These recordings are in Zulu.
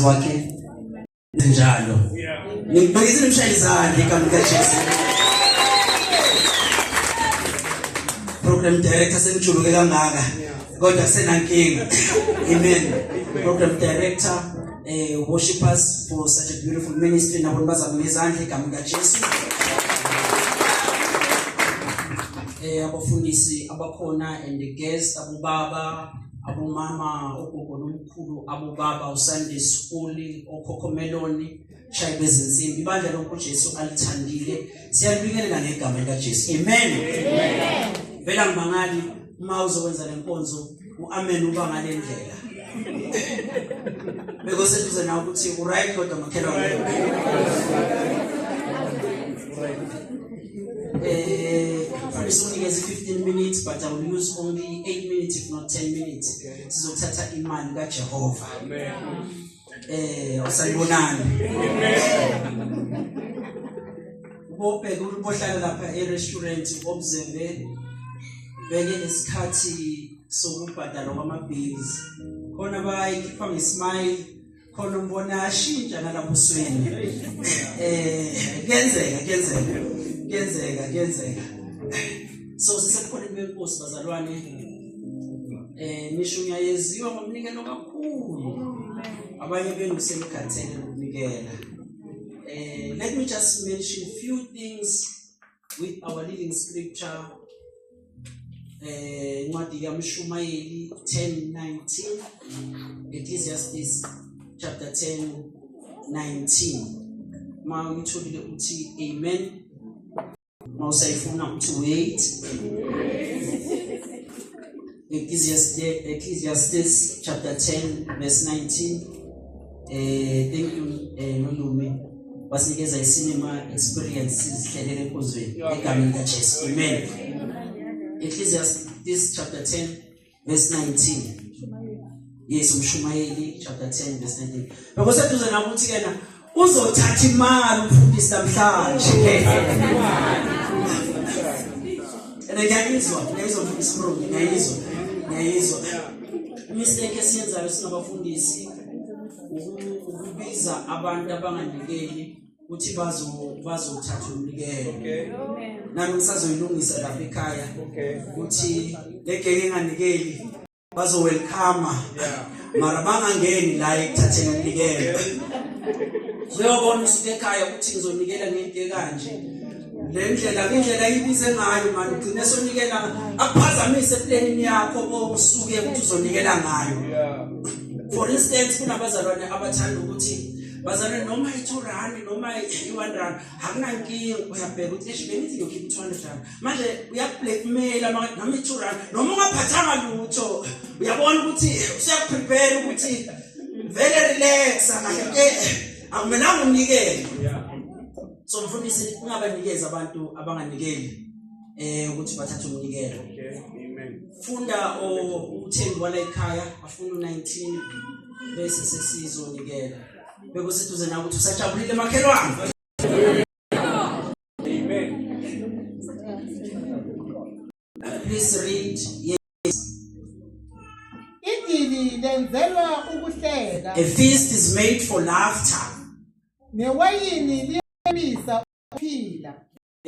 wakhe njalo ngibhekise imshayeli izandla igama likajesu program director sengijuluke kangaka kodwa kusenankinga amen program director eh worshipers for such a beautiful ministry nabo bazama ngezandla igama likajesu eh abafundisi abakhona and the guests abobaba abomama ogogo nomkhulu abobaba usande skuli okhokho meloni shayi bezinsimbi ibandla lokho Jesu alithandile siyalibingelela ngegama lika Jesu amen amen vela ngibangali uma uzokwenza lenkonzo uamen uba ngale ndlela bekoseduze nawe ukuthi uright kodwa makhelwane eh mfundisi unikeze 15 minutes but i will use only 8 minutes if not 10 minutes sizothatha imali kaJehova amen eh usayibonani ubobheka umuntu ohlala lapha e-restaurant obzembe beke nesikhathi sokubhadalwa kwama-bills khona bayikhipha ngesmile khona umbona ashintsha nalapho usweni um eh, kuyenzeka kuyenzeka kuyenzeka kuyenzeka so sisebukhoneni benkosi bazalwane eh nisho ngiyayeziwa ngomnikelo kakhulu abanye benu senikhathele ukunikela eh let me just mention few things with our living scripture eh incwadi kaMshumayeli 10:19 Ecclesiastes chapter 10 19 ma ngitholile uthi amen uma usayifuna ukuthi wait Ecclesiastes chapter 10 verse 19 eh thank you eh nolume basinikeza isinema experience sizihlelele enkonzweni egameni likaJesu amen Ecclesiastes chapter 10 verse 19 yes umshumayeli chapter 10 verse 19 bheka seduze na ukuthi kena uzothatha imali umfundisi namhlanje and ngiyayizwa ngiyayizwa mfundisi bro ngiyayizwa ngiyayizwa mistake esiyenzayo singabafundisi ukubiza abantu abanganikeli ukuthi bazo bazothatha umnikelo okay nami ngisazoyilungisa lapha ekhaya okay ukuthi legeke enganikeli bazo welcome yeah mara bangangeni la ekuthatheni umnikelo uyobona usuke ekhaya ukuthi ngizonikela ngento ekanje le ndlela indlela ayibize ngayo mani ugcine sonikela akuphazamise eplanini yakho osuke ukuthi uzonikela ngayo for instance kunabazalwane abathanda ukuthi bazalwane noma i-two rand noma i-one rand akunankinga uyabheka ukuthi eish bengithi ngiyokhipha i-two hundred rand manje uyakublackmaila noma i-two rand noma ungaphathanga lutho uyabona ukuthi usuyakuprepare ukuthi vele relaxa kahle ke akumelanga unikele so mfundisi ungabanikezi abantu abanganikeli eh ukuthi bathathe umnikelo amen funda uthembi wala ekhaya afuna u19 bese sesizonikela bekuseduze na ukuthi usajabulile makhelwane amen please read yes idili lenzelwa ukuhleka a feast is made for laughter newayini liyabisa ukuphila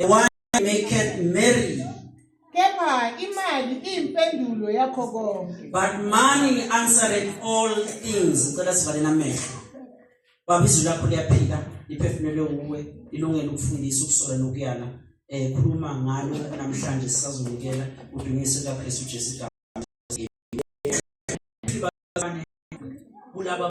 The one that maketh merry. Kepha imali impendulo yakho konke. But money answereth all things. Ngicela sivale namehlo. Baba izwi lakho liyaphila, liphefumulelwe nguwe, lilungele ukufundisa, ukusola nokuyala. Eh khuluma ngalo namhlanje sisazonikela udumiso likaKristu Jesu igama. Kulaba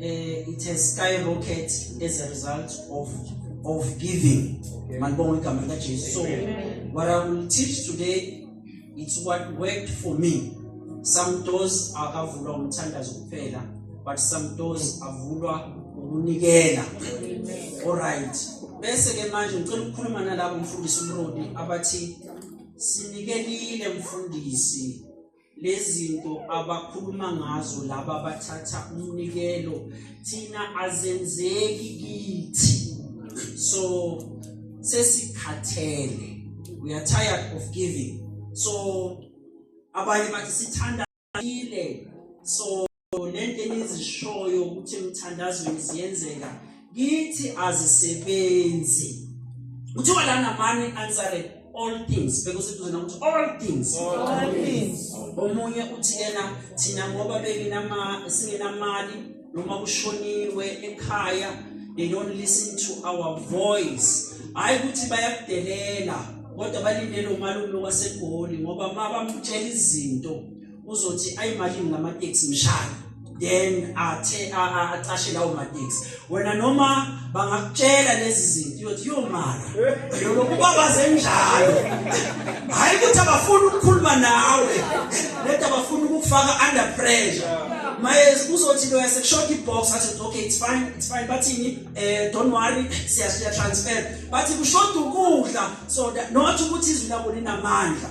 eh it has skyrocket as a result of of giving okay. manibonga igama lika Jesu so what i will teach today it's what worked for me some doors akavulwa umthandazo kuphela but some doors avulwa ukunikela all right bese ke manje ngicela ukukhuluma nalabo mfundisi umrodi abathi sinikelile mfundisi lezinto abakhuluma ngazo laba abathatha umnikelo thina azenzeki kithi so sesikhathele we are tired of giving so abanye bathi sithanda ile so nento enizishoyo ukuthi emthandazweni ziyenzeka kithi azisebenzi kuthiwa lana mani answered all things bekuseduze nokuthi all things all things omunye uthi yena thina ngoba benginama singenamali noma kushoniwe ekhaya they don't listen to our voice hayi ukuthi bayakudelela kodwa balindele umalume wasegoli ngoba mabamtshela izinto uzothi ayimalini ngama taxi mshaya then athe acashe lawo ma taxi wena noma bangakutshela lezi zinto uyothi yomala yolokhu babaze njalo hayi ukuthi abafuni ukukhuluma nawe lento abafuni ukufaka under pressure maye uzothi lo yasekushoda ibox athi okay it's fine it's fine bathini eh don't worry siya transfer bathi kushoda ukudla so not ukuthi izwi labo linamandla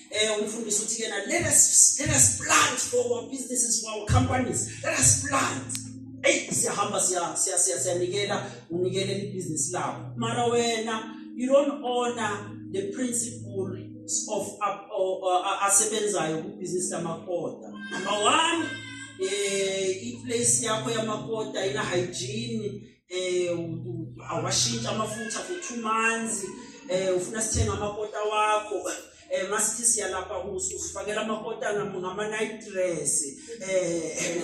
Eh umfundisi uthi yena let us let us plant for our businesses for our companies. Let us plant. Hey siyahamba siya siya siya siyanikela unikele ibusiness lawo. Mara wena you don't honor the principle of up uh, asebenzayo ku business lamakota. Number 1 eh i place yakho yamakota ina hygiene eh awashintsha amafutha for 2 months eh ufuna sithenga amakota wakho eh masithi siyalapha kuso ufakela amakota ngama night dress eh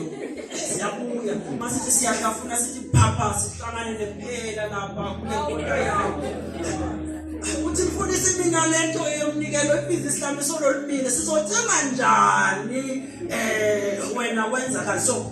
siyabuya masithi siyahlafuna sithi phapha sihlangane nempela lapha kulekota yakho uthi mfundisi mina lento yomnikelo ebizi islami sololibile sizothenga njani eh wena wenza kanjani so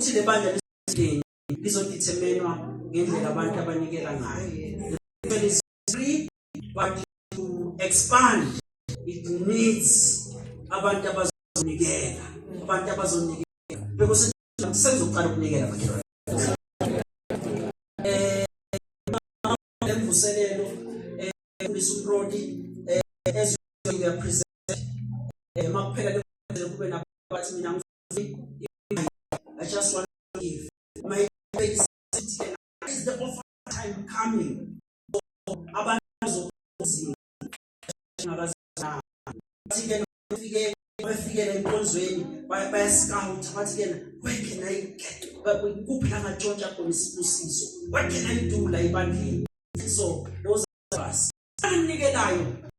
ukuthi le bandla lizodeterminwa ngendlela abantu abanikela ngayo free but to expand it needs abantu abazonikela abantu abazonikela because senzo uqala ukunikela bakhe eh emvuselelo eh undisa uproti eh as you are present eh makuphela lokho kube nabathi mina ngifuni I just want to give my is the offer time coming abantu bazokuzima bathi-ke bafike bafikela enkonzweni bayasikawutha bathi-ke where can i get kuphi la ngatshontsha khona isibusiso where can i do la ibandleni so those of us anikelayo